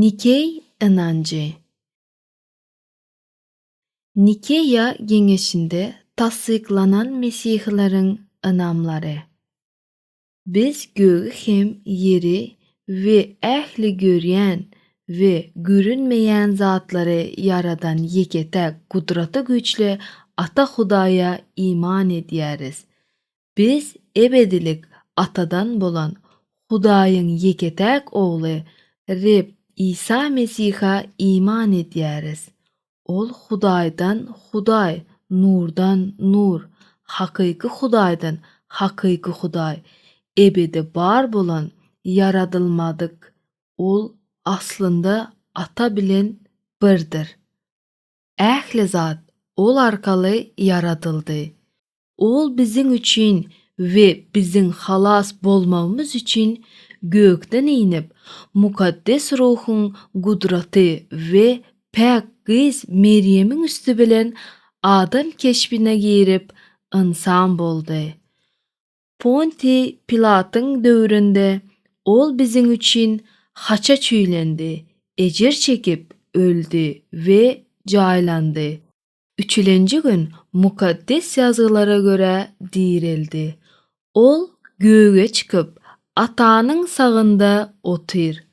Nikeý ynanjy. Nikeýa geňeşinde tassyklanan mesihileriň ynamlary. Biz gögi hem ýeri we ähli görýän we görünmeýän zatlary ýaradan ýeke-täk Gudraty güýçli Ata Hudaýa iman edýäris. Biz ebedilik Atadan bolan Hudaýyň ýeke-täk Ogly, Reb Isa Mesihe iman edýäris. Ol Hudaýdan Hudaý, Nurdan Nur, hakyky Hudaýdan hakyky Hudaý, ebedi bar bolan, ýaradylmadyk. Ol aslynda Ata bilen birdir. Ähli zat Ol arkaly ýaradyldy. Ol biziň üçin we biziň halas bolmagymyz üçin gökden inip, Mukaddes Ruhuň gudraty we päk gyz Merýemiň üsti bilen adam keşbine girip, ynsan boldy. Ponti Pilatyň döwründe Ol biziň üçin haça çüýlendi, ejir çekip, öldi we jaýlandy. Üçülenji gün Mukaddes Ýazgylara görä direldi. Ol göge çykyp, Atanyň sagynda otyr.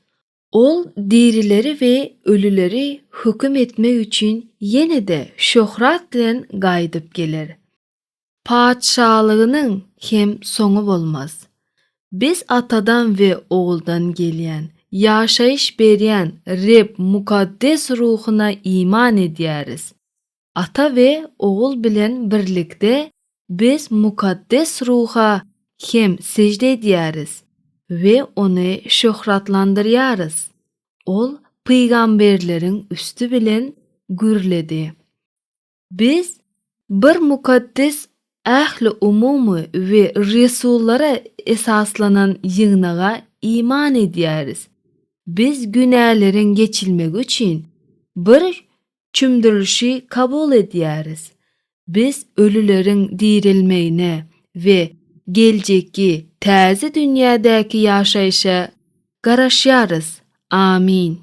Ol dirileri we ölüleri höküm etmek üçin ýene-de şöhrat bilen gaýdyp geler. Patyşalygynyň hem soňy bolmaz. Biz Atadan we Oguldan gelýän, ýaşaýyş berýän Reb mukaddes ruhuna iman edýäris. Ata we Ogul bilen birlikde biz mukaddes ruha hem sežde edýäris we ony şöhratlandyrýarys. Ol pygamberleriň üsti bilen gürledi. Biz bir mukaddes ähliumumy we resullara esaslanan ýygnaga iman edýäris. Biz günäleriň geçilmegi üçin bir çümdürilişi kabul edýäris. Biz ölüleriň direlmegine we geljekki täze dünýädäki ýaşaýşa garaşýarys. Amin.